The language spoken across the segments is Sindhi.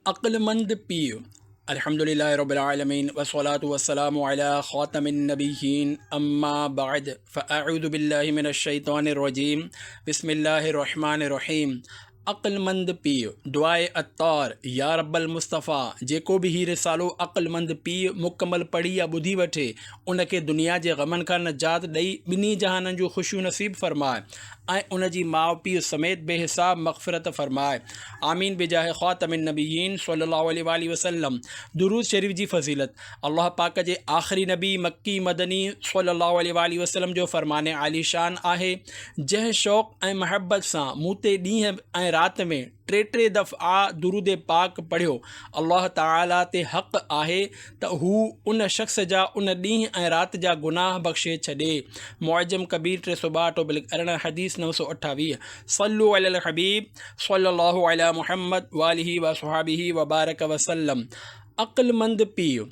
عقلمند پيء الحمد لله رب العالمين والصلاة والسلام على خاتم النبيين اما بعد فاعوذ بالله من الشيطان الرجيم بسم الله الرحمن الرحيم عقلمند پيء دعاء اتار يا رب المصطفى جيڪو به هي رسالو عقلمند پيء مڪمل پڙهي يا ٻڌي وٺي ان کي دنيا جي غمن کان نجات ڏئي ٻنهي جهانن جون خوشيون نصيب فرماء ۽ ان جي ماء پيء سميت بي حساب مغفرت فرمائي آمين بجاھ خاتم النبيين صلي الله عليه واٰله وسلم درود شريف جي فضيلت الله پاڪ جي آخري نبي مڪي مدني صلي الله عليه واٰله وسلم جو فرمان عالي شان آهي جنهن شوق ۽ محبت سان مون تي ڏينهن ۽ رات ۾ ٽي ٽي دفعا درود پاڪ پڙهيو الله تعالي تي حق آهي ته هو ان شخص جا ان ڏينهن ۽ رات جا گناهه بخشي ڇڏي معجم ڪبير ٽي سؤ ٻاهٺ ٽوبلڪ ارڙهن حديث نو سؤ اٺاويهه صلو علي الحبيب صلي الله علي محمد واله وصحبه وبارڪ وسلم عقلمند پيء.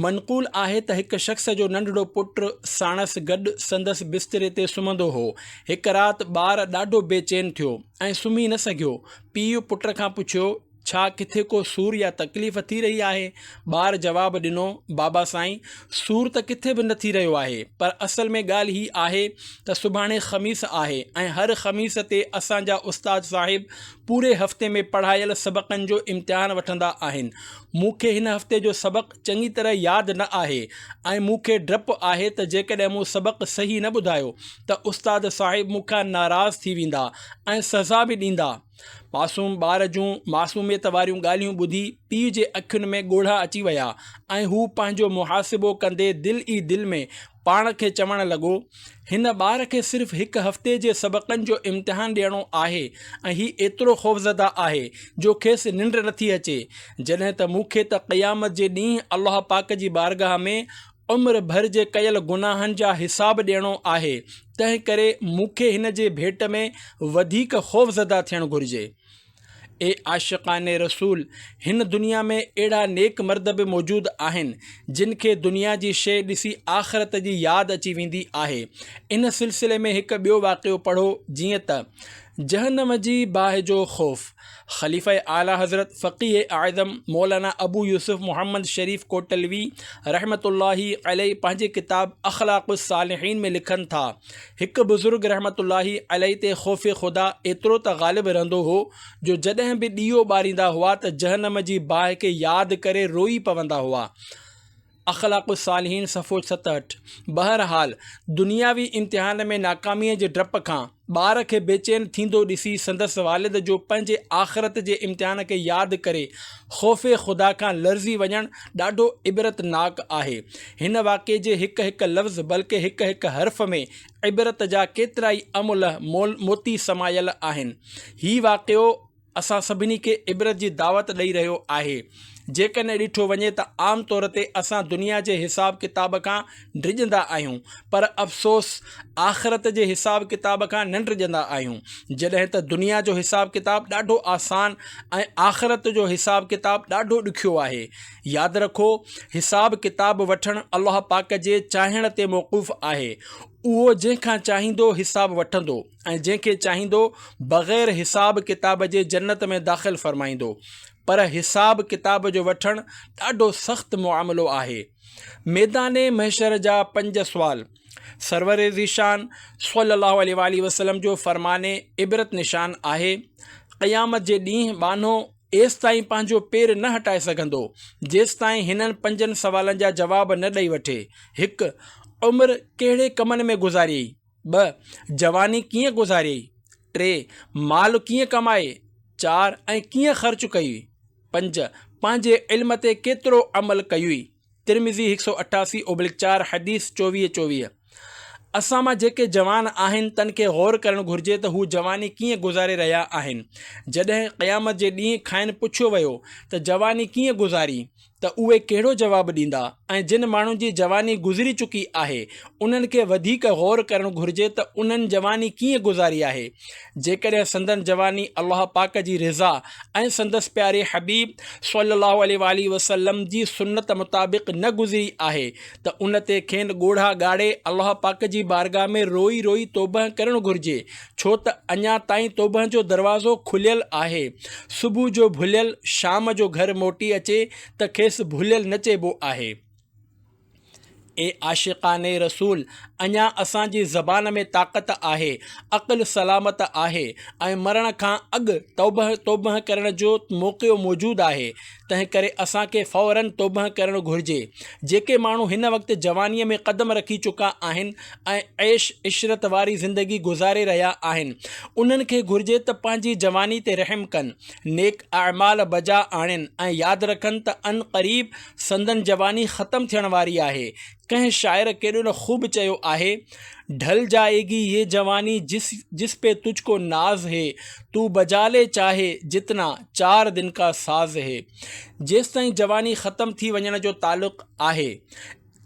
منقول آهي ته هڪ شخص جو ننڍڙو پٽ ساڻس گڏ سندس بستري تي سمهندو هو. هڪ رات ٻار ڏاڍو بي چين ٿيو ۽ سمهي نه سگهيو. پيء پٽ کان پڇيو، ڇا ڪٿي ڪو سور يا تڪليف ٿي رهي آهي؟ ٻار جواب ڏنو، بابا سائين، سور ته ڪٿي به نه ٿي رهيو آهي، پر اصل ۾ ڳالهه هي آهي ته سڀاڻي خميس آهي ۽ هر خميس تي اسان جا استاد صاحب پوري هفتي ۾ پڙهايل سبقن جو امتحان وٺندا آهن. مون کي هن هفتي جو سبق چڱي طرح ياد نه آهي ۽ مون کي ڊپ آهي ته جيڪڏهن مون سبق صحيح نه ٻڌايو ته استاد صاحب مون کان ناراض ٿي ويندا ۽ سزا به ڏيندا. معصوم ٻار جون معصوميت واريون ڳالهيون ٻڌي پيء جي اکين ۾ ڳوڙها اچي ويا ۽ هو پنهنجو محاسبو ڪندي دل ئي دل ۾ پاڻ کي چوڻ لڳو، هن ٻار کي صرف هڪ هفتي جي سبقن جو امتحان ڏيڻو آهي ۽ هي ايترو خوفزده آهي جو کيس ننڊ نٿي اچي، جڏهن ته مون کي ته قيامت جي ڏينهن الله پاڪ جي بارگاهه ۾ عمر ڀر جي ڪيل گناهن جا حساب ڏيڻو آهي، تنهنڪري مون کي هن جي ڀيٽ ۾ وڌيڪ خوفزده ٿيڻ گهرجي. اي عاشقان رسول! هن دنيا ۾ اهڙا نيڪ مرد به موجود آهن، جن کي دنيا جي شيء ڏسي آخرت جي ياد اچي ويندي آهي. ان سلسلي ۾ هڪ ٻيو واقعو پڙهو جيئن ته، جهنم جي باهه جو خوف، خليفه اعليٰ حضرت فقيه اعظم مولانا ابو يوسف محمد شريف ڪوٽلوي رحمة الله عليه پنهنجي ڪتاب اخلاق الصالحين ۾ لکن ٿا، هڪ بزرگ رحمة الله عليه تي خوف خدا ايترو ته غالب رهندو هو جو جڏهن به ڏيئو ٻاريندا هئا ته جهنم جي باهه کي ياد ڪري روئي پوندا هئا. اخلاق الصالحين صفحو ستهٺ بهرحال دنياوي امتحان ۾ ناڪاميء جي ڊپ کان ٻار کي بيچين ٿيندو ڏسي سندس والد جو پنهنجي آخرت جي امتحان کي ياد ڪري خوف خدا کان لرزي وڃڻ ڏاڍو عبرتناڪ آهي. هن واقعي جي هڪ هڪ لفظ بلڪه هڪ هڪ حرف ۾ عبرت جا ڪيترائي املهه مول موتي سمايل آهن. هي واقعو اسان سڀني کي عبرت جي دعوت ڏئي رهيو آهي. جيڪڏهن ڏٺو وڃي ته عام طور تي اسان دنيا جي حساب ڪتاب کان ڊڄندا آهيون پر افسوس آخرت جي حساب ڪتاب کان نه ڊڄندا آهيون جڏهن ته دنيا جو حساب ڪتاب ڏاڍو آسان ۽ آخرت جو حساب ڪتاب ڏاڍو ڏکيو آهي ياد رکو حساب ڪتاب وٺڻ الله پاڪ جي چاهڻ تي موقوف آهي اهو جنهن کان چاهيندو حساب وٺندو ۽ جنهن کي چاهيندو بغير حساب ڪتاب جي جنت ۾ داخل فرمائيندو پر حساب ڪتاب جو وٺڻ ڏاڍو سخت معاملو آهي ميدان محشر جا پنج سوال، سرور ذيشان صلّي الله عليه واٰله وسلّم جو فرمان عبرت نشان آهي، قيامت جي ڏينهن ٻانهو ايستائين پنهنجو پير نه هٽائي سگهندو، جيستائين هنن پنجن سوالن جا جواب نه ڏئي وٺي، هڪ، عمر ڪهڙي ڪمن ۾ گذاريئي؟ ٻه جواني ڪيئن گذاريئي؟ ٽي مال ڪيئن ڪمايئي؟ چار ۽ ڪيئن خرچ ڪيئي؟ پنج پنهنجي علم تي ڪيترو عمل ڪيئي؟ ترمذي هڪ سؤ اٺاسي اوبلڪ چار حديث چوويهه چوويهه اسان مان جيڪي جوان آهن تن کي غور ڪرڻ گهرجي ته هو جواني ڪيئن گذاري رهيا آهن جڏهن قيامت جي ڏينهن کانئن پڇيو ويو ته جواني ڪيئن گذاري ته اهي ڪهڙو جواب ڏيندا ۽ جن ماڻهن جي جواني گذري چڪي آهي انهن کي وڌيڪ غور ڪرڻ گهرجي ته انهن جواني ڪيئن گذاري آهي جيڪڏهن سندن جواني الله پاڪ جي رضا ۽ سندس پياري حبيب صلي الله عليه واٰله وسلم جي سنت مطابق نه گذري آهي ته ان تي کين ڳوڙها ڳاڙي الله پاڪ جي بارگاهه ۾ روئي روئي توبهه ڪرڻ گهرجي ڇو ته اڃا تائين توبهن جو دروازو کليل آهي. صبح جو ڀليل شام جو گهر موٽي اچي ته کيس ڀليل نه چئبو آهي. اي عاشقان رسول! اڃا اسان جي زبان ۾ طاقت آهي، عقل سلامت آهي ۽ مرڻ کان اڳ توبهه توبهه ڪرڻ جو موقعو موجود آهي. تنهنڪري اسان کي فوراً توبهه ڪرڻ گهرجي. جيڪي ماڻهو هن وقت جوانيء ۾ قدم رکي چڪا آهن ۽ عيش عشرت واري زندگي گذاري رهيا آهن، انهن کي گهرجي ته پنهنجي جواني تي رحم ڪن، نيڪ اعمال بجا آڻين ۽ ياد رکن ته عنقريب سندن جواني ختم ٿيڻ واري آهي، ڪنهن شاعر ڪيڏو نه خوب چيو آهي، ڍل جائي گي يه جواني جس جس پي تجھ ڪو ناز هي، تون بجا لي چاهي جتنا، چار دن ڪا ساز هي. جيستائين جواني ختم ٿي وڃڻ جو تعلق آهي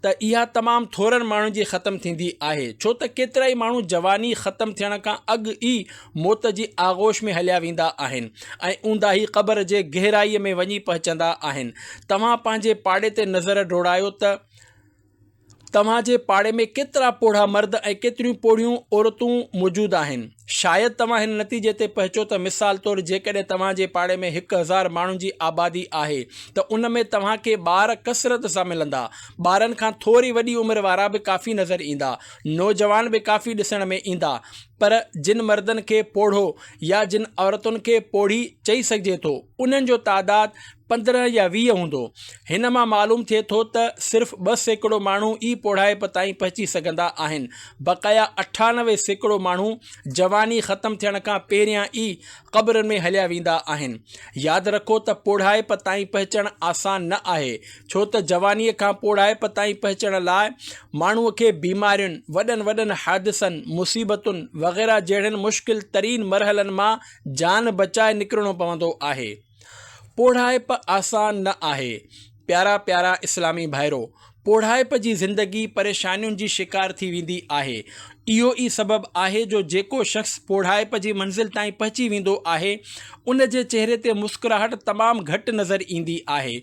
ته اها تمام ٿورن ماڻهن جي ختم ٿيندي آهي ڇو ته ڪيترائي ماڻهو جواني ختم ٿيڻ کان اڳ ئي موت جي آغوش ۾ هليا ويندا آهن ۽ اونداهي قبر جي گهرائيء ۾ وڃي پهچندا آهن. توهان پنهنجي پاڙي تي نظر ڊوڙايو ته توهان جي پاڙي ۾ ڪيترا پوڙها مرد ۽ ڪيتريون پوڙهيون عورتون موجود آهن. شايد توهان هن نتيجي تي پهچو ته مثال طور جيڪڏهن توهان جي پاڙي ۾ هڪ هزار ماڻهن جي آبادي آهي ته ان ۾ توهان کي ٻار ڪثرت سان ملندا. ٻارن کان ٿوري وڏي عمر وارا به ڪافي نظر ايندا. نوجوان به ڪافي ڏسڻ ۾ ايندا. پر جن مردن کي پوڙهو يا جن عورتن کي پوڙهي چئي سگهجي ٿو، انهن جو تعداد پندرهن يا ويهه هوندو. هن مان معلوم ٿئي ٿو ته صرف ٻه سيڪڙو ماڻهو ئي پوڙهائپ تائين پهچي سگهندا آهن، بقايا اٺانوي سيڪڙو ماڻهو جواني ختم ٿيڻ کان پهريان ئي قبرن ۾ هليا ويندا آهن. ياد رکو ته پوڙهائپ تائين پهچڻ آسان نه آهي، ڇو ته جوانيء کان پوڙهائپ تائين پهچڻ لاء ماڻهوء کي بيمارين، وڏن وڏن حادثن، مصيبتن وغيره جهڙن مشڪل ترين مرحلن مان جان بچائي نڪرڻو پوندو آهي. پوڙهائپ آسان نه آهي. پيارا پيارا اسلامي ڀائرو! پوڙهائپ جي زندگي پريشانين جي شڪار ٿي ويندي آهي. اهو ئي سبب آهي جو جيڪو شخص پوڙهائپ جي منزل تائين پهچي ويندو آهي، ان جي چهري تي مسڪراهٽ تمام گهٽ نظر ايندي آهي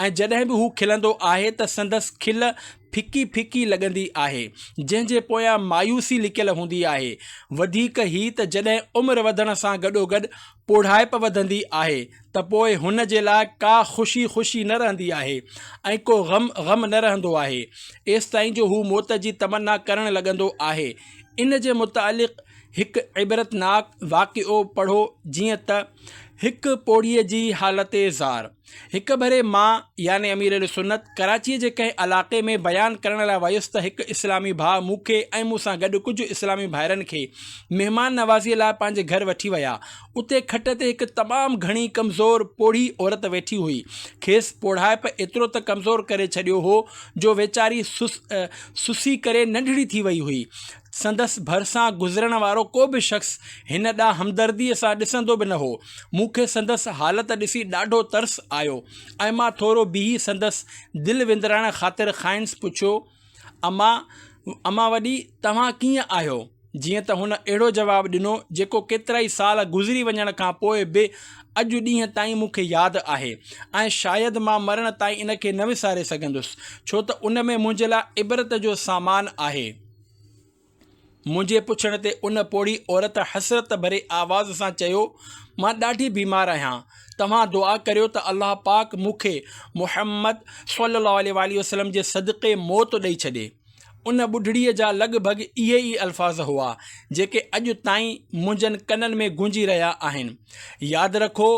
۽ جڏهن به هو کلندو آهي ته سندس کل ڦڪي ڦڪي لڳندي آهي، جنهن جي پويان مايوسي لڪيل هوندي آهي. وڌيڪ هي ته جڏهن عمر وڌڻ سان گڏوگڏ پوڙهائپ وڌندي آهي ته پوء هن جي لاء ڪا خوشي خوشي نه رهندي آهي ۽ ڪو غم غم نه رهندو آهي ايستائين جو هو موت جي تمنا ڪرڻ لڳندو آهي ان جي متعلق هڪ عبرتناڪ واقعو پڙهو جيئن ته هڪ پوڙهيء جي حالت زار هڪ ڀيري مان يعني امير اهلسنت ڪراچيء جي ڪنهن علائقي ۾ بيان ڪرڻ لاء ويس ته هڪ اسلامي ڀاء مون کي ۽ مون سان گڏ ڪجهه اسلامي ڀائرن کي مهمان نوازيء لاء پنهنجي گهر وٺي ويا. اتي کٽ تي هڪ تمام گهڻي ڪمزور پوڙهي عورت ويٺي هئي. کيس پوڙهائپ ايترو ته ڪمزور ڪري ڇڏيو هو جو ويچاري سس سسي ڪري ننڍڙي ٿي وئي هئي. سندس ڀرسان گذرڻ وارو ڪو به شخص هن ڏانهن همدرديء سان ڏسندو به نه هو. مون کي سندس حالت ڏسي ڏاڍو ترس آيو ۽ مان ٿورو بيهي سندس دل وندرائڻ خاطر کائنس پڇيو، اما، اما وڏي، توهان ڪيئن آهيو؟ جيئن ته هن اهڙو جواب ڏنو، جيڪو ڪيترائي سال گذري وڃڻ کان پوء به اڄ ڏينهن تائين مون کي ياد آهي ۽ شايد مان مرڻ تائين ان کي نه وساري سگهندس، ڇو ته ان ۾ منهنجي لاء عبرت جو سامان آهي. منهنجي پڇڻ تي ان پوڙهي عورت حسرت ڀري آواز سان چيو، مان ڏاڍي بيمار آهيان، توهان دعا ڪريو ته الله پاڪ مون کي محمد صلي الله عليه واٰله وسلم جي صدقي موت ڏئي ڇڏي. ان ٻڍڙيء جا لڳ ڀڳ اهي ئي الفاظ هئا، جيڪي اڄ تائين منهنجن ڪنن ۾ گونجي رهيا آهن. ياد رکو!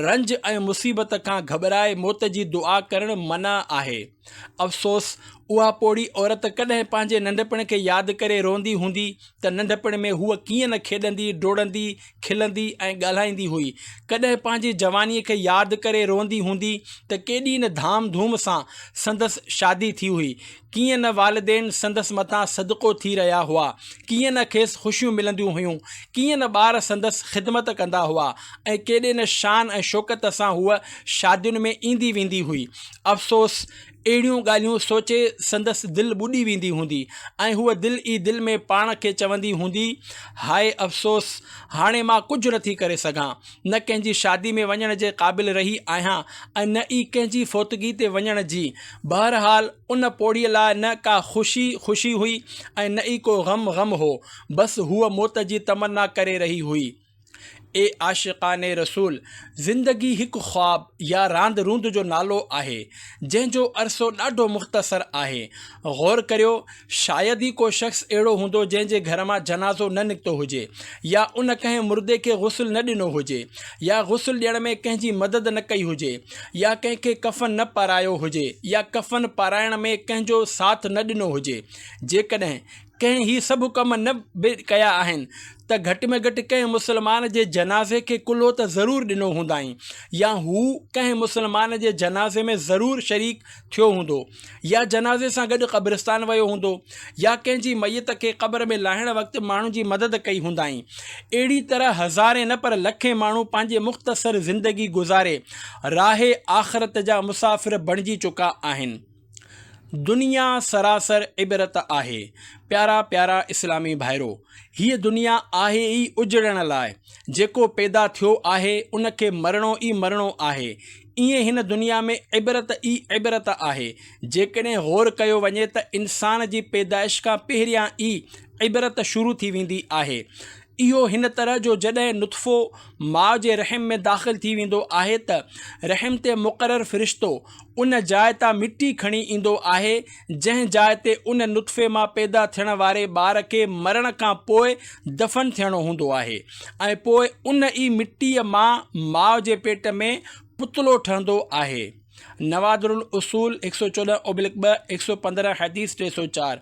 رنج ۽ مصيبت کان گهٻرائي موت جي دعا ڪرڻ منع آهي. افسوس! اها پوڙهي عورت ڪڏهن پنهنجي ننڍپڻ کي ياد ڪري روئندي هوندي ته ننڍپڻ ۾ هوء ڪيئن نه کيڏندي، ڊوڙندي، کلندي ۽ ڳالهائيندي هئي. ڪڏهن پنهنجي جوانيء کي ياد ڪري روئندي هوندي ته ڪيڏي نه ڌام ڌوم سان سندس شادي ٿي هئي. ڪيئن نه والدين سندس مٿان صدقو ٿي رهيا هئا، ڪيئن نه کيس خوشيون ملنديون هيون، ڪيئن نه ٻار سندس خدمت ڪندا هئا ۽ ڪيڏي نه شان ۽ شوڪت سان هوء شادين ۾ ايندي ويندي هئي. افسوس! اهڙيون ڳالهيون سوچي سندس دل ٻڏي ويندي هوندي ۽ هوء دل ئي دل ۾ پاڻ کي چوندي هوندي، هاء افسوس! هاڻي مان ڪجهه نٿي ڪري سگهان. نه ڪنهن جي شادي ۾ وڃڻ جي قابل رهي آهيان ۽ نه ئي ڪنهن جي فوتگي تي وڃڻ جي. بهرحال ان پوڙهيء لاء نه ڪا خوشي خوشي هئي ۽ نه ئي ڪو غم غم هو. بس هوء موت جي تمنا ڪري رهي هئي. اي عاشقان رسول! زندگي هڪ خواب يا راند روند جو نالو آهي، جنهن جو عرصو ڏاڍو مختصر آهي. غور ڪريو شايد ئي ڪو شخص اهڙو هوندو جنهن جي گهر مان جنازو نه نڪتو هجي يا ان ڪنهن مردي کي غسل نه ڏنو هجي يا غسل ڏيڻ ۾ ڪنهن جي مدد نه ڪئي هجي يا ڪنهن کي ڪفن نه پارايو هجي يا ڪفن پارائڻ ۾ ڪنهن جو ساٿ نه ڏنو هجي جيڪڏهن ڪنهن هي سڀ ڪم نه به ڪيا آهن ته گهٽ ۾ گهٽ ڪنهن مسلمان جي جنازي کي ڪلهو ته ضرور ڏنو هوندائين يا هو ڪنهن مسلمان جي جنازي ۾ ضرور شريڪ ٿيو هوندو يا جنازي سان گڏ قبرستان ويو هوندو يا ڪنهن جي ميت کي قبر ۾ لاهڻ وقت ماڻهن جي مدد ڪئي هوندائين. اهڙي طرح هزارين نه پر لکين ماڻهو پنهنجي مختصر زندگي گذاري راهه آخرت جا مسافر بڻجي چڪا آهن. دنيا سراسر عبرت آهي. پيارا پيارا اسلامي ڀائرو! هيء دنيا آهي ئي اجڙڻ لاء. جيڪو پيدا ٿيو آهي ان کي مرڻو ئي مرڻو آهي. ائين هن دنيا ۾ عبرت ئي عبرت آهي. جيڪڏهن غور ڪيو وڃي ته انسان جي پيدائش کان پهريان ئي عبرت شروع ٿي ويندي آهي. اهو هن طرح جو جڏهن نطفو ماء جي رحم ۾ داخل ٿي ويندو آهي ته رحم تي مقرر فرشتو ان جاء تان مٽي کڻي ايندو آهي جنهن جاء تي ان نطفي مان پيدا ٿيڻ واري ٻار کي مرڻ کان پوء دفن ٿيڻو هوندو آهي ۽ پوء ان ئي مٽيء مان ماء جي پيٽ ۾ پتلو ٺهندو آهي، نوادر الاصول، هڪ سؤ چوڏهن اوبلڪ ٻه، هڪ سؤ پندرهن حديث ٽي سؤ چار،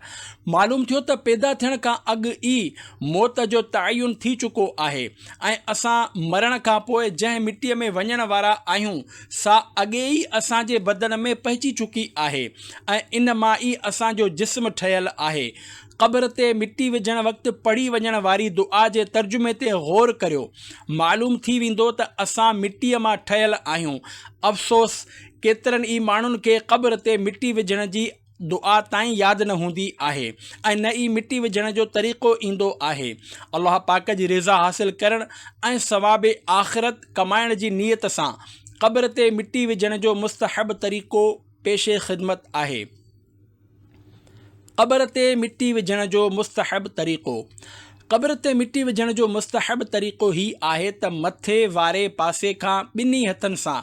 معلوم ٿيو ته پيدا ٿيڻ کان اڳ ئي موت جو تعين ٿي چڪو آهي ۽ اسان مرڻ کان پوء جنهن مٽيء ۾ وڃڻ وارا آهيون، سا اڳي ئي اسان جي بدن ۾ پئجي چڪي آهي ۽ ان مان ئي اسان جو جسم ٺهيل آهي. قبر تي مٽي وجهڻ وقت پڙهي وڃڻ واري دعا جي ترجمي تي غور ڪريو. معلوم ٿي ويندو ته اسان مٽيء مان ٺهيل آهيون. افسوس! ڪيترن ئي ماڻهن کي قبر تي مٽي وجهڻ جي دعا تائين ياد نه هوندي آهي ۽ نه ئي مٽي وجهڻ جو طريقو ايندو آهي. الله پاڪ جي رضا حاصل ڪرڻ ۽ ثواب آخرت ڪمائڻ جي نيت سان قبر تي مٽي وجهڻ جو مستحب طريقو پيش خدمت آهي. قبر تي مٽي وجهڻ جو مستحب طريقو، قبر تي مٽي وجهڻ جو مستحب طريقو هي آهي ته مٿي واري پاسي کان ٻنهي هٿن سان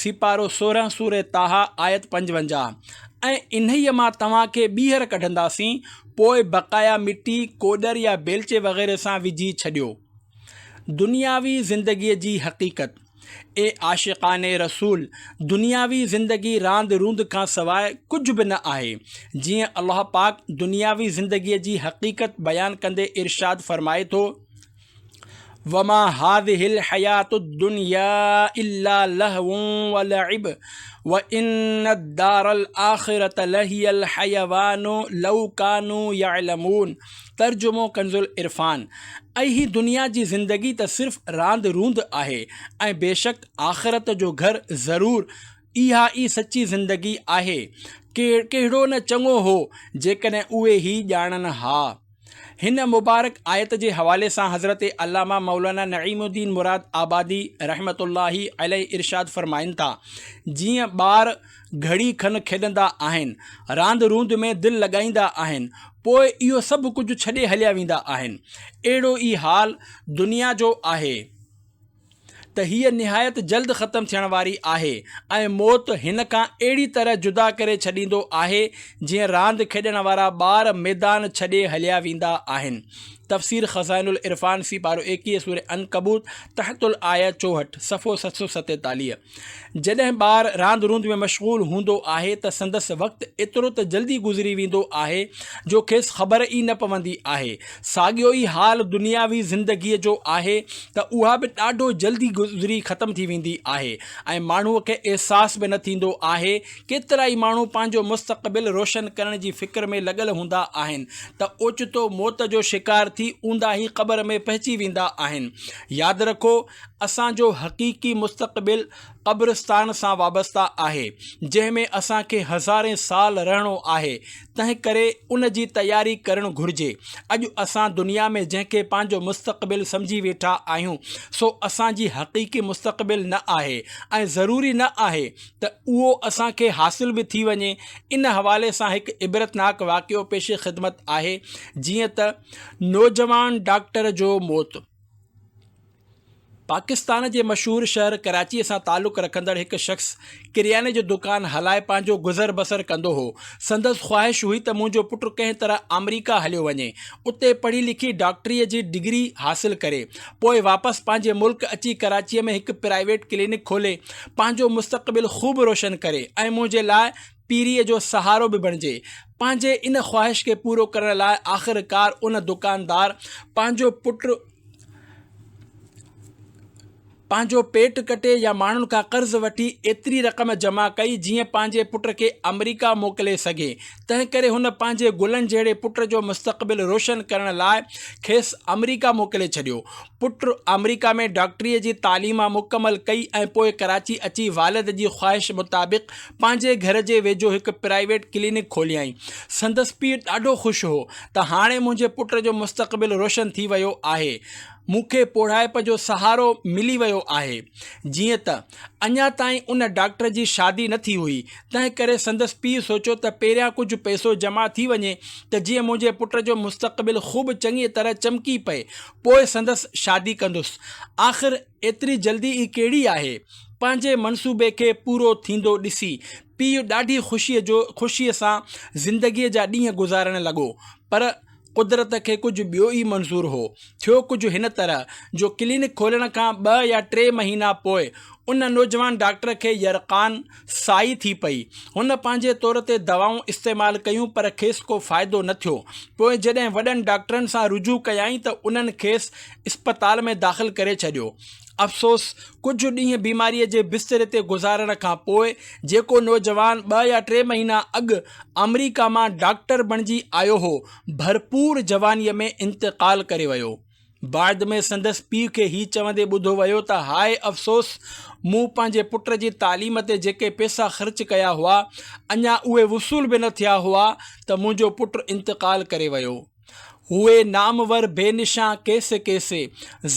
سيپارو سورهن سورة طٰهٰ آيت پنجونجاهه، ۽ انهيء مان توهان کي ٻيهر ڪڍنداسين، پوء بقايا مٽي، ڪوڏر يا بيلچي وغيره سان وجهي ڇڏيو. دنياوي زندگيء جي حقيقت، اي عاشقان رسول! دنياوي زندگي راند روند کان سواء ڪجهه به نه آهي، جيئن الله پاڪ دنياوي زندگيء جي حقيقت بيان ڪندي ارشاد فرمائي ٿو، وما هذه الحياة الدنيا الا لهو ولعب وان الدار الاخرة لهي الحيوان لو ڪانو يعلمون ترجمو ڪنزالعرفان ۽ هي دنيا جي زندگي ته صرف راند روند آهي ۽ بيشڪ آخرت جو گهر ضرور اها ئي سچي زندگي آهي ڪهڙو نه چڱو هو جيڪڏهن اهي هي ڄاڻن ها. هن مبارڪ آيت جي حوالي سان حضرت علامه مولانا نعيم الدين مراد آبادي رحمة الله عليه ارشاد فرمائن ٿا، جيئن ٻار گهڙي کن کيڏندا آهن، راند روند ۾ دل لڳائيندا آهن، پوء اهو سڀ ڪجهه ڇڏي هليا ويندا آهن، اهڙو ئي حال دنيا جو آهي. ته هيء نهايت جلد ختم ٿيڻ واري آهي ۽ موت هن کان اهڙي طرح جدا ڪري ڇڏيندو آهي جيئن راند کيڏڻ وارا ٻار ميدان ڇڏي هليا ويندا آهن. تفسير خزائن العرفان سي پارو ايڪيهه سوره عنڪبوت تحت الآيه چوهٺ، صفحو ست سؤ ستيتاليهه. جڏهن ٻار راند روند ۾ مشغول هوندو آهي ته سندس وقت ايترو ته جلدي گذري ويندو آهي جو کيس خبر ئي نه پوندي آهي. ساڳيو ئي حال دنياوي زندگيء جو آهي ته اها به ڏاڍو جلدي گذري ختم ٿي ويندي آهي ۽ ماڻهوء کي احساس به نه ٿيندو آهي. ڪيترائي ماڻهو پنهنجو مستقبل روشن ڪرڻ جي فڪر ۾ لڳل هوندا آهن ته اوچتو موت جو شڪار ٿي اونداهي قبر ۾ پهچي ويندا آهن. ياد رکو! اسان جو حقيقي مستقبل قبرستان سان وابسته آهي، جنهن ۾ اسان کي هزارين سال رهڻو آهي، تنهنڪري ان جي تياري ڪرڻ گهرجي. اڄ اسان دنيا ۾ جنهن کي پنهنجو مستقبل سمجهي ويٺا آهيون، سو اسان جي حقيقي مستقبل نه آهي ۽ ضروري نه آهي ته اهو اسان کي حاصل به ٿي وڃي. ان حوالي سان هڪ عبرتناڪ واقعو پيش خدمت آهي، جيئن ته نوجوان ڊاڪٽر جو موت. پاڪستان جي مشهور شهر ڪراچيء سان تعلق رکندڙ هڪ شخص ڪرياني جو دڪان هلائي پنهنجو گذر بسر ڪندو هو. سندس خواهش هئي ته منهنجو پٽ ڪنهن طرح آمريڪا هليو وڃي، اتي پڙهي لکي ڊاڪٽريء جي ڊگري حاصل ڪري، پوء واپس پنهنجي ملڪ اچي ڪراچيء ۾ هڪ پرائيويٽ ڪلينڪ کولي، پنهنجو مستقبل خوب روشن ڪري ۽ منهنجي لاء پيريء جو سهارو به بڻجي. پنهنجي ان خواهش کي پورو ڪرڻ لاء آخرڪار ان دڪاندار پنهنجو پٽ پنهنجو پيٽ ڪٽي يا ماڻهن کان قرض وٺي ايتري رقم جمع ڪئي جيئن پنهنجي پٽ کي آمريڪا موڪلي سگهي. تنهنڪري هن پنهنجي گلن جهڙي پٽ جو مستقبل روشن ڪرڻ لاء کيس آمريڪا موڪلي ڇڏيو. پٽ آمريڪا ۾ ڊاڪٽريء جي تعليم مڪمل ڪئي ۽ پوء ڪراچي اچي والد جي خواهش مطابق پنهنجي گهر جي ويجهو هڪ پرائيويٽ ڪلينڪ کوليائين. سندس پيء ڏاڍو خوش هو ته هاڻي منهنجي پٽ جو مستقبل روشن ٿي ويو آهي. مون کي پوڙهائپ جو سهارو ملي ويو آهي. جيئن ته اڃا تائين ان ڊاڪٽر جي شادي نه ٿي هئي، تنهن ڪري سندس پيء سوچيو ته پهريان ڪجهه پئسو جمع ٿي وڃي ته جيئن منهنجي پٽ جو مستقبل خوب چڱيء طرح چمڪي پئي، پوء سندس شادي ڪندس. آخر ايتري جلدي ئي ڪهڙي آهي؟ پنهنجي منصوبي کي پورو ٿيندو ڏسي، پيء ڏاڍي خوشيء جو خوشيء سان زندگيء جا ڏينهن گذارڻ لڳو. پر قدرت کي ڪجهه ٻيو ئي منظور هو. ٿيو ڪجهه هن طرح، جو ڪلينڪ کولڻ کان ٻه يا ٽي مهينا پوء، ان نوجوان ڊاڪٽر کي يرقان، سائي ٿي پئي. هن پنهنجي طور تي دوائون استعمال ڪيون پر کيس ڪو فائدو نه ٿيو. پوء جڏهن وڏن ڊاڪٽرن سان رجوع ڪيائين ته انهن کيس اسپتال ۾ داخل ڪري ڇڏيو. افسوس! ڪجهه ڏينهن بيماريء جي بستري تي گذارڻ کان پوء جيڪو نوجوان ٻه يا ٽي مهينا اڳ آمريڪا مان ڊاڪٽر بڻجي آيو هو، ڀرپور جوانيء ۾ انتقال ڪري ويو. بعد ۾ سندس پيء کي هي چوندي ٻڌو ويو ته هاء افسوس! مون پنهنجي پٽ جي تعليم تي جيڪي پئسا خرچ ڪيا هئا، اڃا اهي وصول به نه ٿيا هئا ته منهنجو پٽ انتقال ڪري ويو. هوئي نامور بي نشان ڪيسي ڪيسي،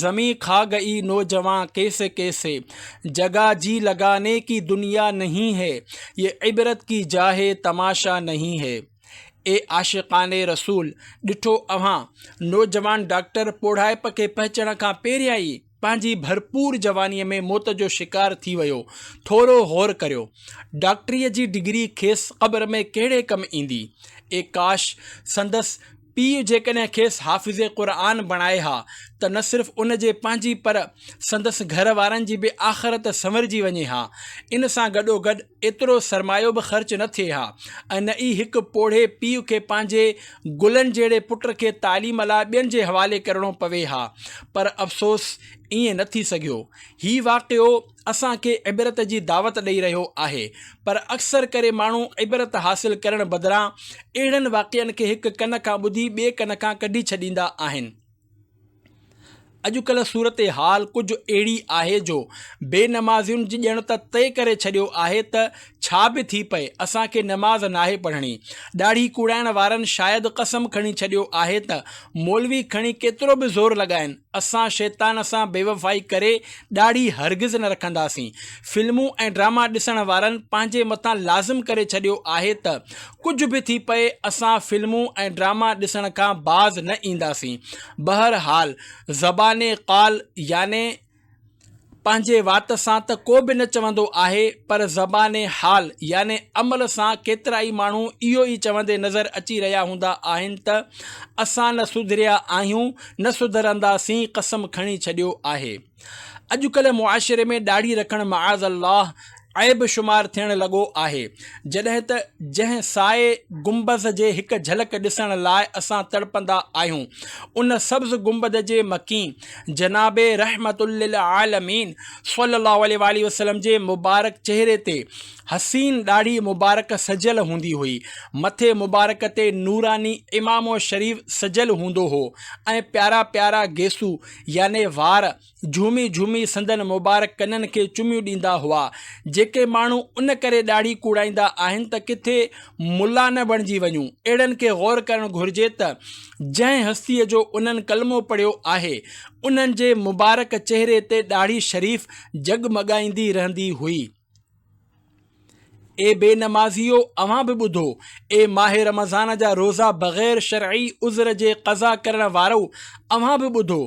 زمين کآ گئي نوجوان ڪيسي ڪيسي، جگا جي لگاني ڪي دنيا نهين هي، يه عبرت ڪي جا هي تماشا نهين هي. اي عاشقان رسول! ڏٺو اوهان، نوجوان ڊاڪٽر پوڙهائپ کي پهچڻ کان پهريان ئي پنهنجي ڀرپور جوانيء ۾ موت جو شڪار ٿي ويو. ٿورو غور ڪريو. ڊاڪٽريء جي ڊگري کيس قبر ۾ ڪهڙي ڪم ايندي؟ اي ڪاش! سندس پيء جيڪڏهن کيس حافظ قرآن بڻائي ها ته نه صرف ان جي پنهنجي پر سندس گهر وارن جي به آخرت سنورجي وڃي ها. ان سان گڏوگڏ ايترو سرمايو به خرچ نه ٿئي ها ۽ نه ئي هڪ پوڙهي پيء کي پنهنجي گلن جهڙي پٽ کي تعليم لاء ٻين جي حوالي ڪرڻو پوي ها. پر افسوس ائين نه ٿي سگهيو. هي واقعو اسان کي عبرت جي دعوت ڏئي رهيو آهي پر اڪثر ڪري ماڻهو عبرت حاصل ڪرڻ بدران اهڙن واقعن کي هڪ ڪن کان ٻڌي ٻئي ڪن کان ڪڍي ڇڏيندا آهن. اڄڪلهه صورتحال ڪجهه اهڙي آهي جو بي نمازين ڄڻ ته طئي ڪري ڇڏيو آهي ته ڇا به ٿي پئي اسان کي نماز ناهي پڙهڻي. ڏاڙهي ڪوڙائڻ وارن شايد قسم کڻي ڇڏيو آهي ته مولوي کڻي ڪيترو به زور لڳائين اسان شيطان سان بيوفائي ڪري ڏاڙهي هرگز نه رکنداسين. فلمون ۽ ڊراما ڏسڻ وارن پنهنجي مٿان لازم ڪري ڇڏيو آهي ته ڪجهه به ٿي پئي اسان فلمون ۽ ڊراما ڏسڻ کان باز نه اينداسين. بهرحال زبان قال يعني پنهنجي وات سان ته ڪو به نه چوندو آهي پر زبان حال يعني عمل سان ڪيترائي ماڻهو اهو ئي چوندي نظر اچي رهيا هوندا آهن ته اسان نه سڌريا آهيون نه سڌرنداسين قسم کڻي ڇڏيو آهي اڄڪلهه معاشري ۾ ڏاڙهي رکڻ معاذ الله عيب شمار ٿيڻ لڳو آهي، جڏهن ته جنهن سائي گنبذ جي هڪ جهلڪ ڏسڻ لاء اسان تڙپندا آهيون، ان سبز گنبد جي مڪين جناب رحمة للعالمين صلّي اللّٰه عليه واٰله وسلّم جي مبارڪ چهري تي حسين ڏاڙهي مبارڪ سجيل هوندي هئي، مٿي مبارڪ تي نوراني عمامو شريف سجيل هوندو هو ۽ پيارا پيارا گيسو يعني وار جهومي جهومي سندن مبارڪ ڪنن کي چميون ڏيندا هئا. جيڪي ماڻهو ان ڪري ڏاڙهي ڪوڙائيندا آهن ته ڪٿي ملا نه بڻجي وڃون. اهڙن کي غور ڪرڻ گهرجي ته جنهن هستيء جو انهن ڪلمو پڙهيو آهي، انهن جي مبارڪ چهري تي ڏاڙهي شريف جڳمڳائيندي رهندي هئي. اي بي نمازيو اوهان به ٻڌو، اي ماه رمضان جا روزا بغير شرعي عذر جي قضا ڪرڻ وارؤ اوهان به ٻڌو،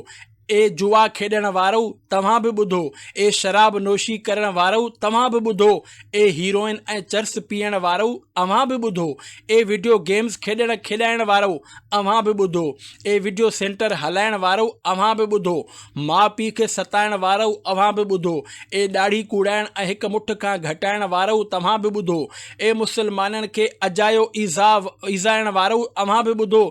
اي جوا کيڏڻ وارؤ توهان به ٻڌو، اي شراب نوشي ڪرڻ وارؤ توهان به ٻڌو، اي هيروئن ۽ چرس پيئڻ وارؤ اوهان به ٻڌو، اي وڊيو گيمز کيڏڻ کيڏائڻ وارؤ اوهان به ٻڌو، اي وڊيو سينٽر هلائڻ وارؤ اوهان به ٻڌو، ماء پيء کي ستائڻ وارؤ اوهان به ٻڌو، اي ڏاڙهي ڪوڙائڻ ۽ هڪ مٺ کان گهٽائڻ وارؤ توهان به ٻڌو، اي مسلمانن کي اجايو ايذاء ايذائڻ وارؤ اوهان به ٻڌو،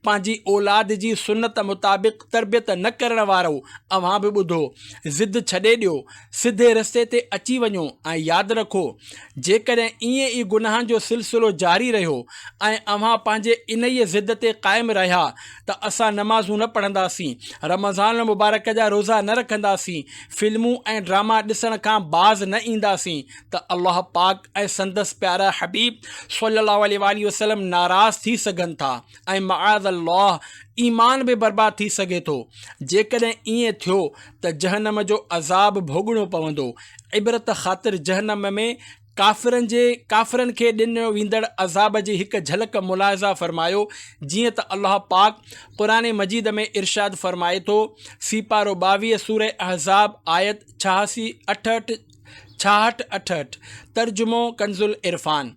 پنهنجي اولاد جي سنت مطابق تربيت نه ڪرڻ وارؤ اوهان به ٻڌو، ضد ڇڏي ڏيو، سڌي رستي تي اچي وڃو ۽ ياد رکو، جيڪڏهن ائين ئي گناهن جو سلسلو جاري رهيو ۽ اوهان پنهنجي انهيء ضد تي قائم رهيا، ته اسان نمازون نه پڙهنداسين، رمضان المبارڪ جا روزا نه رکنداسين، فلمون ۽ ڊراما ڏسڻ کان باز نه اينداسين ته الله پاڪ ۽ سندس پيارا حبيب صلّي الله عليه واٰله وسلّم ناراض ٿي سگهن ٿا ۽ معاذ الله ايمان به برباد ٿي سگهي ٿو. جيڪڏهن ائين ٿيو ته جهنم جو عذاب ڀوڳڻو پوندو. عبرت خاطر جهنم ۾ ڪافرن جي، ڪافرن کي ڏنو ويندڙ عذاب جي هڪ جهلڪ ملاحظه فرمايو، جيئن ته الله پاڪ قرآن مجيد ۾ ارشاد فرمائي ٿو، سيپارو ٻاويهه سورة احزاب آيت ڇهاسي اٺهٺ، ڇاهٺ اٺهٺ، ترجمو، ڪنزالعرفان،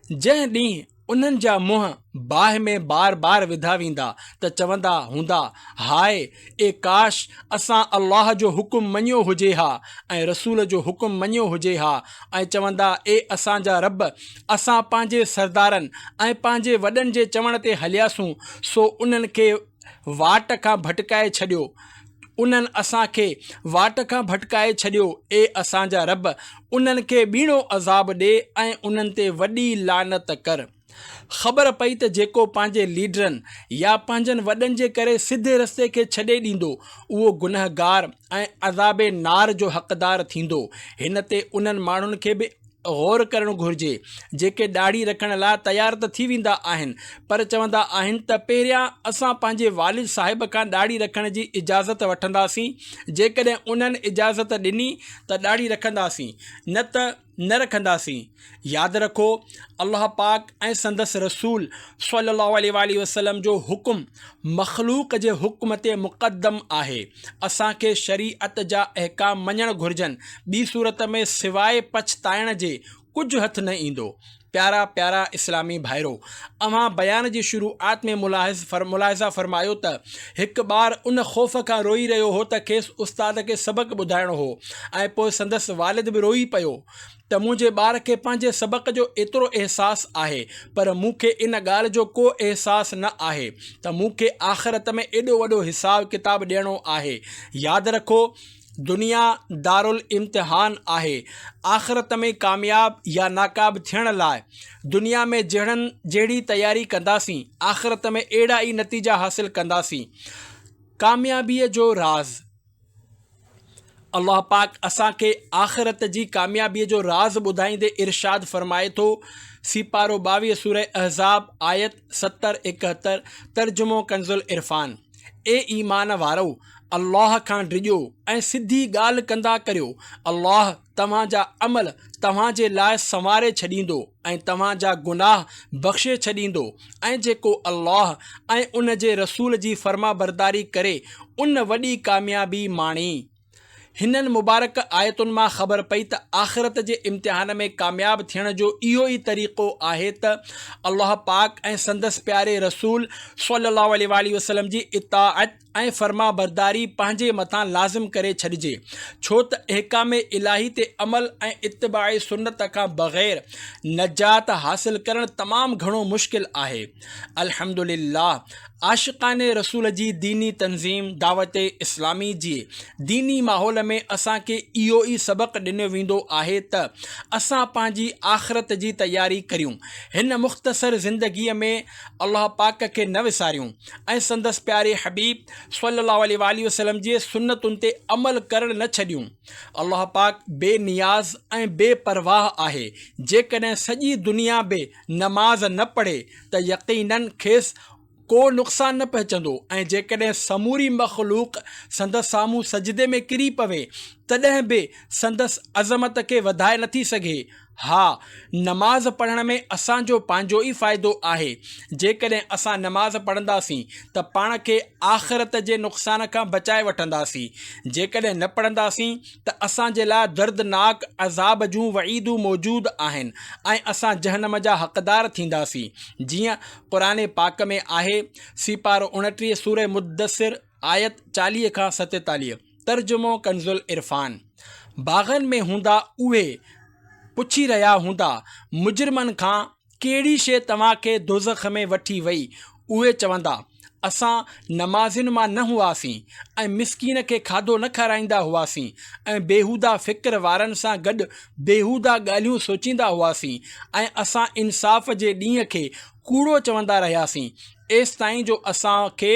جنهن ڏينهن، انهن جا منهن باهه ۾ بار بار وڌا ويندا ته چوندا هوندا، هاء! اي ڪاش! اسان الله جو حڪم مڃيو هجي ها ۽ رسول جو حڪم مڃيو هجي ها ۽ چوندا، اي اسان جا رب! اسان پنهنجي سردارن ۽ پنهنجي وڏن جي چوڻ تي هلياسون، سو انهن کي واٽ کان ڀٽڪائي ڇڏيو. انهن اسان کي واٽ کان ڀٽڪائي ڇڏيو، اي اسان جا رب! انهن کي ٻيڻو عذاب ڏي ۽ انهن تي وڏي لعنت ڪر. خبر پئي ته جيڪو پنهنجي ليڊرن يا پنهنجن وڏن جي ڪري سڌي رستي کي ڇڏي ڏيندو، اهو گنهگار ۽ عذاب نار جو حقدار ٿيندو. هن تي انهن ماڻهن کي به. غور ڪرڻ گهرجي جيڪي ڏاڙهي رکڻ لاء تيار ته ٿي ويندا آهن پر چوندا آهن ته پهريان اسان پنهنجي والد صاحب کان ڏاڙهي رکڻ جي اجازت وٺنداسين جيڪڏهن انهن اجازت ڏني ته ڏاڙهي رکنداسين نه ته نه رکنداسين ياد رکو الله پاڪ ۽ سندس رسول صلي الله عليه واٰله وسلم جو حڪم مخلوق جي حڪم تي مقدم آهي اسان کي شريعت جا احڪام مڃڻ گهرجن، ٻي صورت ۾ سواء پڇتائڻ جي ڪجهه هٿ نه ايندو. پيارا پيارا اسلامي ڀائرو! اوهان بيان جي شروعات ۾ ملاحظ فر ملاحظه فرمايو ته هڪ ٻار ان خوف کان روئي رهيو هو ته کيس استاد کي سبق ٻڌائڻو هو ۽ پوء سندس والد به روئي پيو ته منهنجي ٻار کي پنهنجي سبق جو ايترو احساس آهي پر مون کي ان ڳالهه جو ڪو احساس نه آهي ته مون کي آخرت ۾ ايڏو وڏو حساب ڪتاب ڏيڻو آهي ياد رکو دنيا دارالامتحان آهي آخرت ۾ ڪامياب يا ناڪاب ٿيڻ لاء دنيا ۾ جهڙن جهڙي تياري ڪنداسين آخرت ۾ اهڙا ئي نتيجا حاصل ڪنداسين ڪاميابيء جو راز الله پاڪ اسان کي آخرت جي ڪاميابيء جو راز ٻڌائيندي ارشاد فرمائي ٿو، سيپارو ٻاويهه سورة احزاب آيت ستر ايڪهتر ترجمو ڪنزالعرفان، اي ايمان وارؤ! الله کان ڊڄو ۽ سڌي ڳالهه ڪندا ڪريو، الله، توهان جا عمل توهان جي لاء سنواري ڇڏيندو ۽ توهان جا گناهه بخشي ڇڏيندو ۽ جيڪو الله ۽ ان جي رسول جي فرمانبرداري ڪري ان وڏي ڪاميابي ماڻي. هنن مبارڪ آيتن مان خبر پئي ته آخرت جي امتحان ۾ ڪامياب ٿيڻ جو اهو ئي طريقو آهي ته الله پاڪ ۽ سندس پياري رسول صلّي اللّٰه عليه واٰله وسلّم جي اطاعت ۽ فرمانبرداري پنهنجي مٿان لازم ڪري ڇڏجي، ڇو ته احڪام الاهي تي عمل ۽ اتباع سنت کان بغير نجات حاصل ڪرڻ تمام گهڻو مشڪل آهي. الحمد لله عاشقان رسول جي ديني تنظيم دعوت اسلامي جي ديني ماحول ۾ اسان کي اهو ئي سبق ڏنو ويندو آهي ته اسان پنهنجي آخرت جي تياري ڪريون هن مختصر زندگي ۾ الله پاڪ کي نه وساريون ۽ سندس پياري حبيب صلّي الله عليه واٰله وسلّم جي سنّتن تي عمل ڪرڻ نه ڇڏيون. الله پاڪ بي نياز ۽ بي پرواهه آهي، جيڪڏهن سڄي دنيا به نماز نه پڙهي ته يقيناً کيس ڪو نقصان نه پهچندو ۽ جيڪڏهن سموري مخلوق سندس سامهون سجدي ۾ ڪري پوي تڏهن به سندس عظمت کي وڌائي نٿي سگهي. ها، نماز پڙهڻ ۾ اسان جو پنهنجو ئي فائدو آهي. جيڪڏهن اسان نماز پڙهنداسين ته پاڻ کي آخرت جي نقصان کان بچائي وٺنداسين. جيڪڏهن نه پڙهنداسين ته اسان جي لاء دردناڪ عذاب جون وعيدون موجود آهن ۽ اسان جهنم جا حقدار ٿينداسين. جيئن قرآن پاڪ ۾ آهي، سيپارو اڻٽيهه سورة مدثر آيت چاليهه کان ستيتاليهه. ترجمو ڪنزالعرفان باغن ۾ هوندا اهي پڇي رهيا هوندا مجرمن کان ڪهڙي شيء توهان کي دوزخ ۾ وٺي وئي اهي چوندا اسان نمازين مان نه هئاسين ۽ مسڪين کي کاڌو نه کارائيندا هئاسين ۽ بيهوده فڪر وارن سان گڏ بيهوده ڳالهيون سوچيندا هئاسين ۽ اسان انصاف جي ڏينهن کي ڪوڙو چوندا رهياسين ايستائين جو اسان کي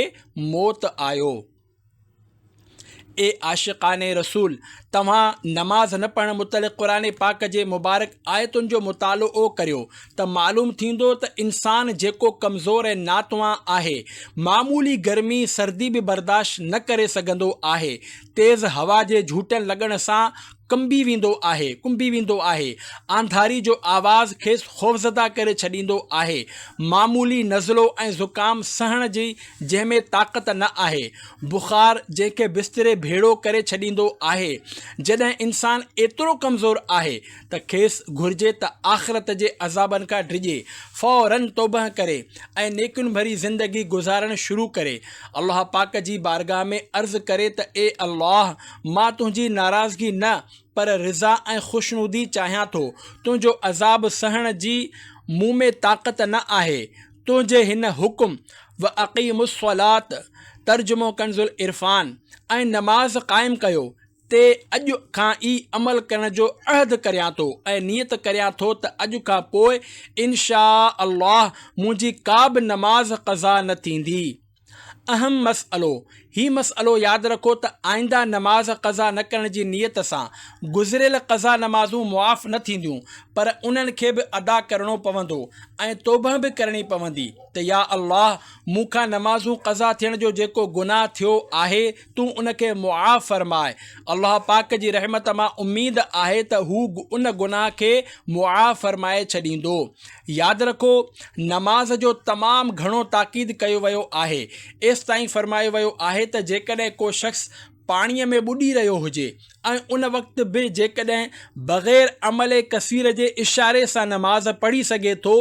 موت آيو. اي عاشقان رسول! توهان نماز نه پڙهڻ متعلق قرآن پاڪ جي مبارڪ آيتن جو مطالعو ڪريو ته معلوم ٿيندو ته انسان جيڪو ڪمزور ۽ ناتوان آهي، معمولي گرمي سردي به برداشت نه ڪري سگهندو آهي، تيز هوا جي جهوٽن لڳڻ سان، ڪنبي ويندو آهي، ڪنبي ويندو آهي. آنڌاري جو آواز کيس خوفزده ڪري ڇڏيندو آهي. معمولي نزلو ۽ زڪام سهڻ جي جنهن ۾ طاقت نه آهي. بخار جنهن کي بستري ڀيڙو ڪري ڇڏيندو آهي. جڏهن انسان ايترو ڪمزور آهي ته کيس گهرجي ته آخرت جي عذابن کان ڊڄي، فوراً توبهه ڪري ۽ نيڪين ڀري زندگي گذارڻ شروع ڪري. الله پاڪ جي بارگاهه ۾ عرض ڪري ته اي الله! مان تنهنجي ناراضگي نه پر رضا ۽ خوشنودي چاهيان ٿو. تنهنجو عذاب سهڻ جي مون ۾ طاقت نه آهي. تنهنجي هن حڪم، واقيموا الصلاة، ترجمو ڪنزالعرفان، ۽ نماز قائم ڪيو، تي اڄ کان ئي عمل ڪرڻ جو عهد ڪريان ٿو ۽ نيت ڪريان ٿو ته اڄ کان پوء ان شاء الله منهنجي ڪا به نماز قضا نه ٿيندي. اهم مسئلو، هي مسئلو ياد رکو ته آئنده نماز قضا نه ڪرڻ جي نيت سان گذريل قضا نمازون معاف نه ٿينديون پر انهن کي به ادا ڪرڻو پوندو ۽ توبهه به ڪرڻي پوندي ته يا الله مون کان نمازون قضا ٿيڻ جو جيڪو گناهه ٿيو آهي تون ان کي معاف فرماء. الله پاڪ جي رحمت مان اميد آهي ته هو ان گناهه کي معاف فرمائي ڇڏيندو. ياد رکو، نماز جو تمام گهڻو تاڪيد ڪيو ويو آهي. ايستائين فرمايو ويو آهي ته جيڪڏهن ڪو شخص پاڻيء ۾ ٻڏي رهيو هجي ۽ ان وقت به جيڪڏهن بغير عملي ڪثير جي اشاري سان نماز پڙهي سگهي ٿو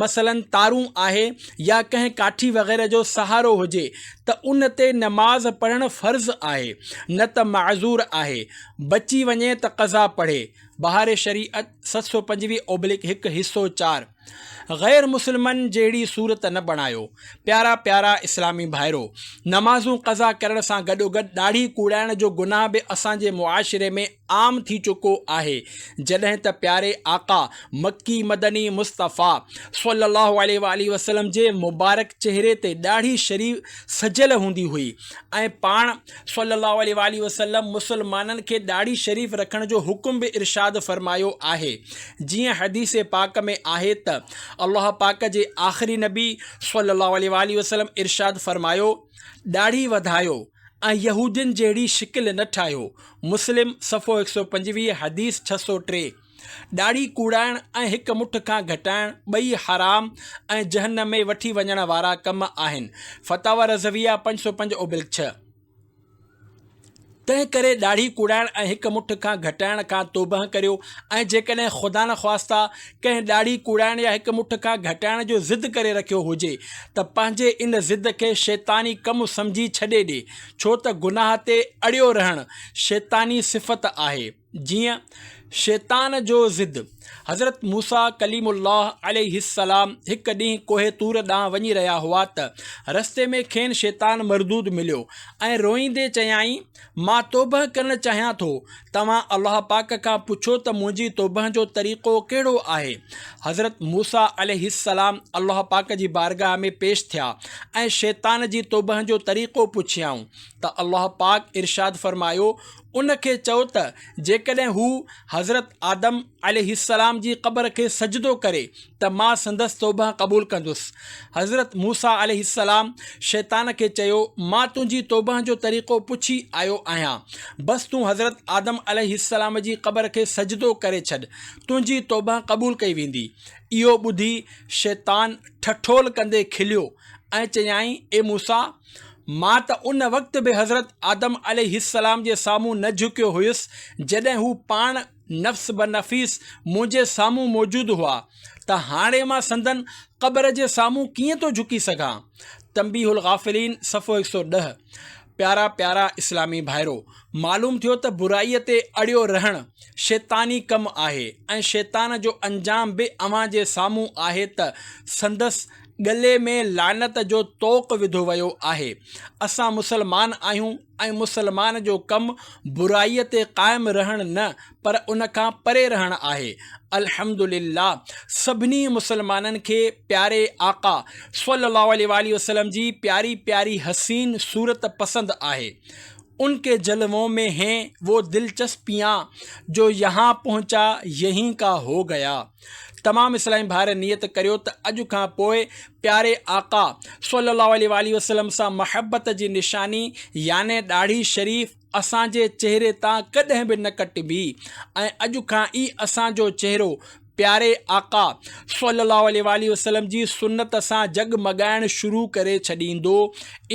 مثلاً تارون آهي يا ڪنهن ڪاٺي وغيره جو سهارو هجي ته ان تي نماز پڙهڻ فرض آهي نه ته معذور آهي بچي وڃي ته قضا پڙهي، بهار شريعت، ست سؤ پنجويهه اوبلڪ هڪ، حصو چار. غير مسلمن جهڙي صورت نه بڻايو پيارا پيارا اسلامي ڀائرو نمازون قضا ڪرڻ سان گڏوگڏ ڏاڙهي ڪوڙائڻ جو گناھ به اسان جي معاشري ۾ عام ٿي چڪو آهي جڏهن ته پياري آقا مڪي مدني مصطفيٰ صلي الله عليه واٰله وسلم جي مبارڪ چهري تي ڏاڙهي شريف سجيل هوندي هئي ۽ پاڻ صلّي اللّٰه عليه واٰله وسلّم مسلمانن کي ڏاڙهي شريف رکڻ جو حڪم به ارشاد فرمايو آهي، جيئن حديث پاڪ ۾ آهي ته الله پاڪ جي آخري نبي صلّي اللّٰه عليه واٰله وسلّم ارشاد فرمايو، ڏاڙهي وڌايو ۽ يهودين جهڙي شڪل نه ٺاهيو، مسلم، صفحو هڪ سؤ پنجويهه، حديث ڇهه سؤ ٽي. ڏاڙهي ڪوڙائڻ ۽ هڪ مٺ کان گهٽائڻ ٻئي حرام ۽ جهنم ۾ وٺي وڃڻ وارا ڪم آهن، فتاويٰ رضويه پنج سؤ پنج اوبلڪ ڇهه. تنهن ڪري ڏاڙهي ڪوڙائڻ ۽ هڪ مٺ کان گهٽائڻ کان توبهه ڪريو ۽ جيڪڏهن خدانخواسته ڪنهن ڏاڙهي ڪوڙائڻ يا هڪ مٺ کان گهٽائڻ جو ضد ڪري رکيو هجي ته پنهنجي ان ضد کي شيطاني ڪم سمجهي ڇڏي ڏي، ڇو ته گناهه تي اڙيو رهڻ شيطاني صفت آهي. جيئن شيطان جو ضد، حضرت موسيٰ ڪليم الله عليه السلام هڪ ڏينهن ڪوهه طور ڏانهن وڃي رهيا هئا ته رستي ۾ کين شيطان مردود مليو ۽ روئيندي چيائين، مان توبهه ڪرڻ چاهيان ٿو، توهان الله پاڪ کان پڇو ته منهنجي توبهه جو طريقو ڪهڙو آهي؟ حضرت موسيٰ عليه السلام الله پاڪ جي بارگاهه ۾ پيش ٿيا ۽ شيطان جي توبهه جو طريقو پڇيائون ته الله پاڪ ارشاد فرمايو، ان کي چئو ته جيڪڏهن هو حضرت آدم عليه السلام جي قبر کي سجدو ڪري ته مان سندس توبه قبول ڪندس. حضرت موسيٰ عليه السلام شيطان کي چيو، مان تنهنجي توبه جو طريقو پڇي آيو آهيان. بس تون حضرت آدم عليه السلام جي قبر کي سجدو ڪري ڇڏ، تنهنجي توبه قبول ڪئي ويندي. اهو ٻڌي شيطان ٺٺول ڪندي کليو. ۽ چيائين، اي موسيٰ! مان ته ان وقت به حضرت آدم عليه السلام جي سامهون نه جهڪيو هيس، جڏهن هو پاڻ نفس بنفيس منهنجي سامهون موجود هئا، ته هاڻي مان سندن قبر جي سامهون ڪيئن ٿو جهڪي سگهان؟ تنبيه الغافلين صفحو هڪ سؤ ڏهه پيارا پيارا اسلامي ڀائرو! معلوم ٿيو ته برائيء تي اڙيو رهڻ شيطاني ڪم آهي ۽ شيطان جو انجام به اوهان جي سامهون آهي ته سندس ڳلي ۾ لعنت جو طوق وڌو ويو آهي. اسان مسلمان آهيون ۽ مسلمان جو ڪم برائي تي قائم رهڻ نه پر ان کان پري رهڻ آهي. الحمد لله سڀني مسلمانن کي پياري آقا صلي الله عليه واٰله وسلم جي پياري پياري حسين صورت پسند آهي. ان ڪي جلوون مين هين، وو دلچسپيان جو يهان پهنچا يهين ڪا هو گيا. تمام اسلامي ڀائر نيت ڪريو ته اڄ کان پوء پياري آقا صلي الله عليه واٰله وسلم سان محبت جي نشاني يعني ڏاڙهي شريف اسان جي چهري تان ڪڏهن به نه ڪٽبي ۽ اڄ کان ئي اسان جو چهرو پياري آقا صلي الله عليه واٰله وسلم جي سنت سان جڳ مڳائڻ شروع ڪري ڇڏيندو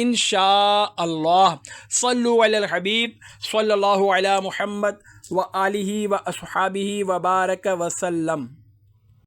ان شاء الله صلو علي الحبيب صلي الله علي محمد وآله وأصحابه وبارڪ وسلم.